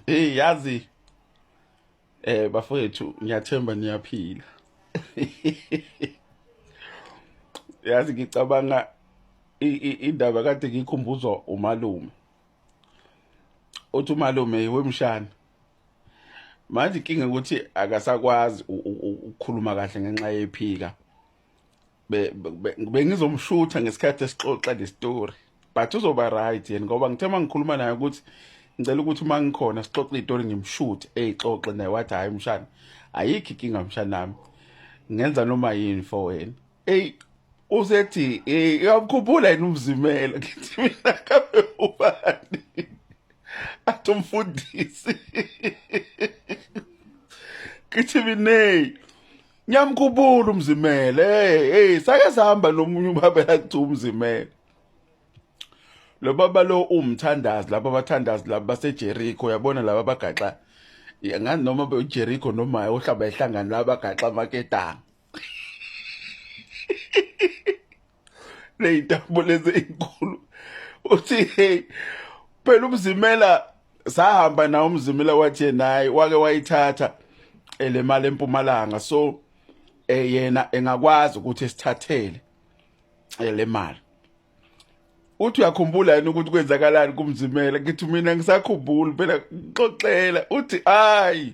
hey yazi eh bafowethu ngiyathemba niyaphila yazi ngicabanga indaba kade ngikhumbuzwa umalume uthi umalume wemshana manje inkinga ukuthi akasakwazi ukukhuluma kahle ngenxa yephika bengizomshutha ngesikhathi esixoxa le story but uzoba right yena ngoba ngithe uma ngikhuluma naye ukuthi ngicela ukuthi uma ngikhona sixoxe itori ngimshuthe eyixoxe naye wathi hhayi mshana ayikho inkinga mshanami ngenza noma yini for wena eyi usethi uyamkhumbula yini umzimela ngithi mina kabe ubani athi umfundisi ngithi mineyi Ngiyamkhumbula umzimele. Hey, hey, sake sihamba nomunye ubaba lakuthiwa umzimele. Lo baba lo umthandazi laba bathandazi laba baseJericho yabona laba bagaxa ngani noma beJericho noma ohlaba ehlangana laba bagaxa amaketanga. ley'ntambo lezi ey'nkulu uthi hey phela umzimela sahamba nawo umzimela wathi naye wake wayithatha eh, le mali empumalanga so eh, yena engakwazi ukuthi sithathele eh, le mali uthi uyakhumbula yini ukuthi kwenzakalani kumzimela ngithi mina ngisakhumbula phela ngixoxela uthi hayi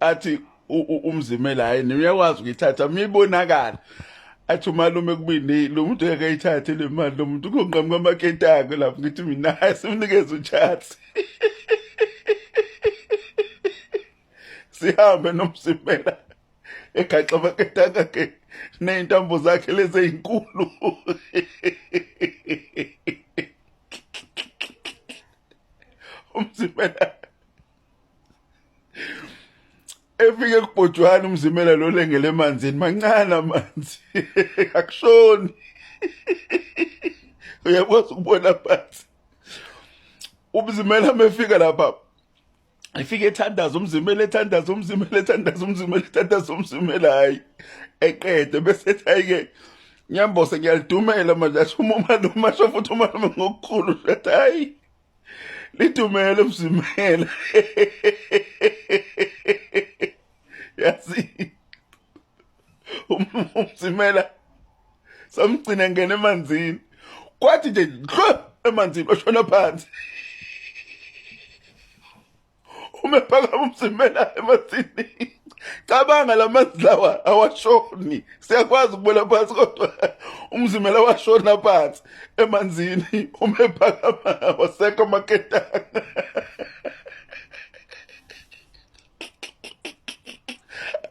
athi umzimela hayi niyakwazi ukuyithatha mibonakala athi umalume kubini lo muntu yake ayithathe le mali lo muntu kunqamuka amakentako lapho ngithi mina simnikeza utshatsi sihambe nomsimela egaxa amakentako akhe ney'ntambo zakhe lezi ey'nkulu umsimela efike kubhojwana umzimela lo lengele emanzini mancane amanzi akushoni uyakwazi ukubona phansi umzimela mefika lapha efike ethandaza umzimela ethandaza umzimela ethandaza umzimela ethandaza umzimela hayi eqede bese ethi ayike ngiyambose ngiyalidumela manje asho uma umalume asho futhi umalume ngokukhulu hayi lidumele msimela yazi umsimela um, samgcina ngena emanzini kwathi nje dlo emanzini oshona phansi uma ephakama umzimela emasini cabanga la manzi lawa awashoni siyakwazi ukubona phansi kodwa umzimela washona phansi emanzini uma ephakama wasekho amaketanga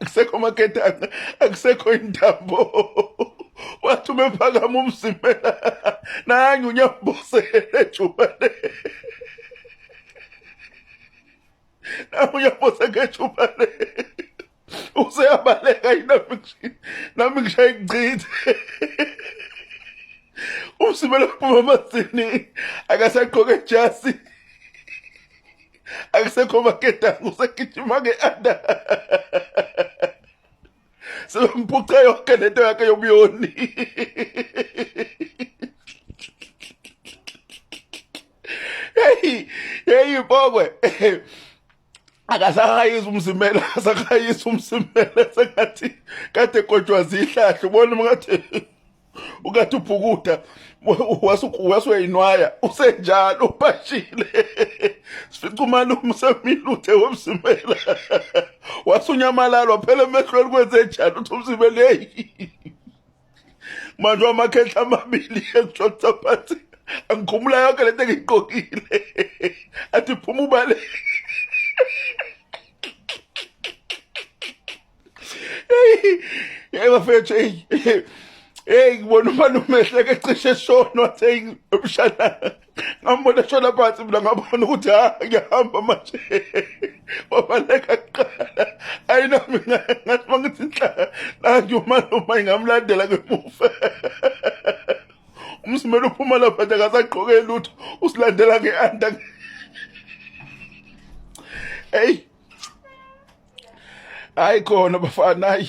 akusekho amaketanga akusekho intambo wathi uma ephakama umzimela nange unyambosele ejubane nawe uyaphose ngethuba le useyabaleka yinami nami ngishaye ngichithe umsimelo kuphuma amasini akasagqoke jasi akusekho maketango usegijima nge-anda sebemphuce yonke lento yakhe yobuyoni heyi heyi bokwe akasakayisa umzimela akasakayisa umzimela sengathi kade kodwa zihlahle ubona ngathi ukade ubhukuda wasuyayinwaya usenjalo ubashile sifica umalume semiluthe womzimela wasunyamalala waphela emehlweni kwenze njalo uthi umzimela yeyi manje wamakhehla amabili engijolisa phansi angikhumula yonke lento engiyigqokile athi phuma ubaleke Hey bafethu hey hey ngibona uma nomehleke cishe shona wathi hey umshana ngambona shona phansi mina ngabona ukuthi ha ngiyahamba manje wabaleka kuqala ayi nami ngathi mangithi inhlaka nangi uma noma ingamlandela ngemuva umsimela uphuma lapha nje akasagqoke lutho usilandela nge-anda hey hayi khona bafana hayi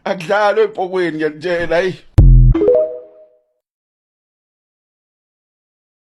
akudlalwe epokweni ngiyanitshela hayi